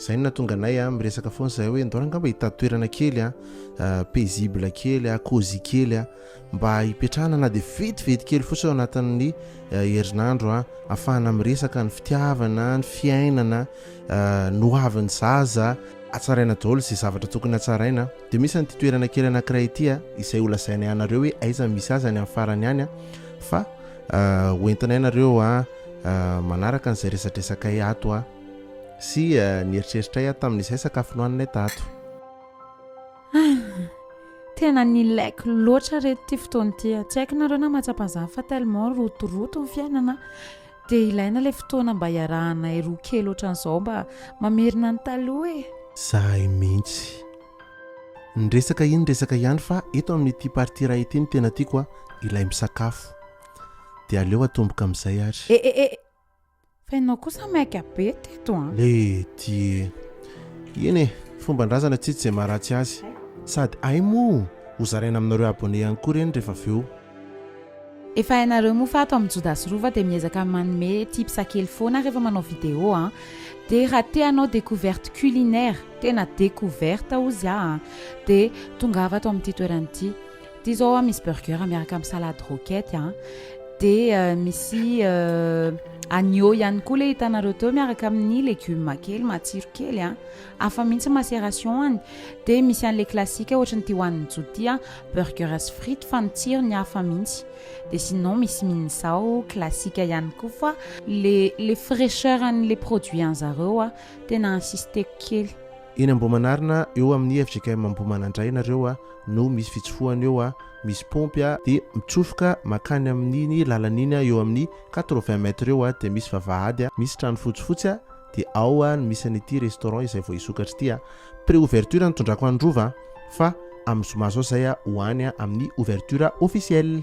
Zay no nahatonga anay a, miresaka foana zahay hoe ndao angamba hitady toerana kely a, paisible kely a, cosy kely a, mba hipetrahana na dia vetivety kely fotsiny ao anatin'ny herinandro a, afahana miresaka ny fitiavana, ny fiainana, ny ho avin'ny zaza, hatsaraina daholo izay zavatra tokony hatsaraina, dia misy an'ity toerana kely anankiray ity a, izay ho lazainay anareo hoe aiza misy azy any amin'ny farany any a, fa ho entinay nareo a manaraka an'izay resadresakay ato a. Sy nieritreritray aho tamin'izay sakafo nohaninay tato. Tena nilaiko loatra reto ity fotoana ity. Tsy haiko nareo na mahatsapa izany fa tellement rotoroto ny fiainana dia ilaina ilay fotoana mba hiarahanay roa kely ohatran'izao mba mamerina ny taloha e. Zahay mihitsy. Ny resaka iny resaka ihany fa eto amin'ity partie iray ity no tena tiako a, ilay misakafo. Dia aleo atomboka amin'izay ary. E e e! Fa ianao kosa maika be teto an. Le tie. Eny e, fomban-drazana tsy tsy izay maharatsy azy. Sady hay moa ho zaraina aminareo abonné ihany koa ireny rehefa avy eo. Efa hainareo moa fa ato amin'ny Joda sy Rova dia miezaka manome tips kely foana rehefa manao vidéo an. Dia raha te hanao découverte culinaire, tena découverte hozy aho an, dia tongava ato amin'ity toerana ity. Ity izao a, misy burger miaraka amin'ny salade roquette a, dia misy agneau ihany koa ilay hitanareo teo miaraka amin'ny légumes kely matsiro kely a, hafa mihitsy macération-ny, dia misy an'ilay classique ohatry ny ity hohanin'i Joa ity a, burger sy frites fa ny tsirony hafa mihitsy, dia sinon misy minzao classique ihany koa fa ilay ilay fraicheur an'ilay produit an'zareo a, tena insisteko kely. Eny Ambohimanarina eo amin'ny fjkm Ambohimanandraina ireo a. no misy fitsofohana eo a, misy pompy a, dia mitsofoka makany amin'iny lalana iny eo amin'ny quatre vingt mètres eo a, dia misy vavahady a, misy trano fotsifotsy a, dia ao a no misy an'ity restaurant izay vao hisokatra ity a, pré ouverture no tondrako an'i Rova a, fa amin'ny zoma zao izay a ho any a amin'ny ouverture officielle.